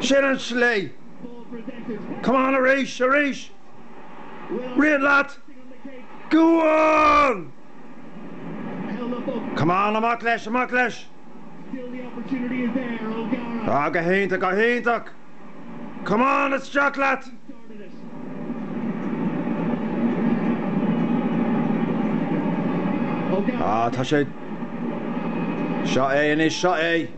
Sin an tslí! Come on arís, arís! Rith leat! Go on! Come on, amach leis, amach leis! Ah, go hiontach, go hiontach! Come on, isteach leat! Ah, tá sé. Seo é anois, seo é!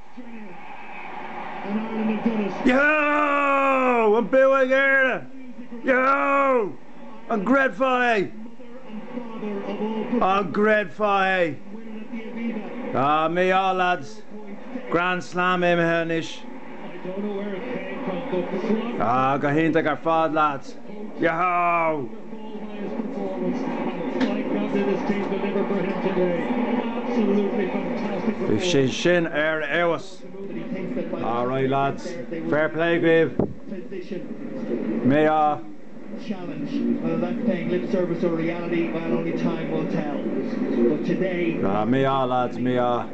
Yahoo! An bua ag Éirinn! Yahoo! An gcreidfeá é? An gcreidfeá é? Mí-ádh leaids! Grand Slam imithe anois. Ah, go hiontach ar fad, leaids. Bhí sé sin ar fheabhas. Alright lads, fair play dhaoibh. Mí-ádh. Mí-ádh lads, mí-ádh.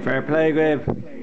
Fair play dhaoibh.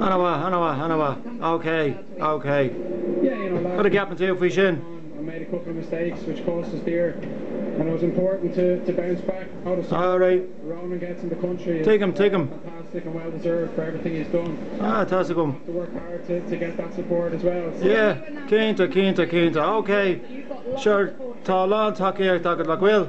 Ana-mhaith, ana-mhaith, ana-mhaith. OK, OK. Cad a cheapann tú faoi sin? Alright. Tuigim, tuigim. Ah, tá's agam. Yeah, cinnte, cinnte, cinnte. OK, sure, tá a lán tacaíocht agat, nach bhfuil?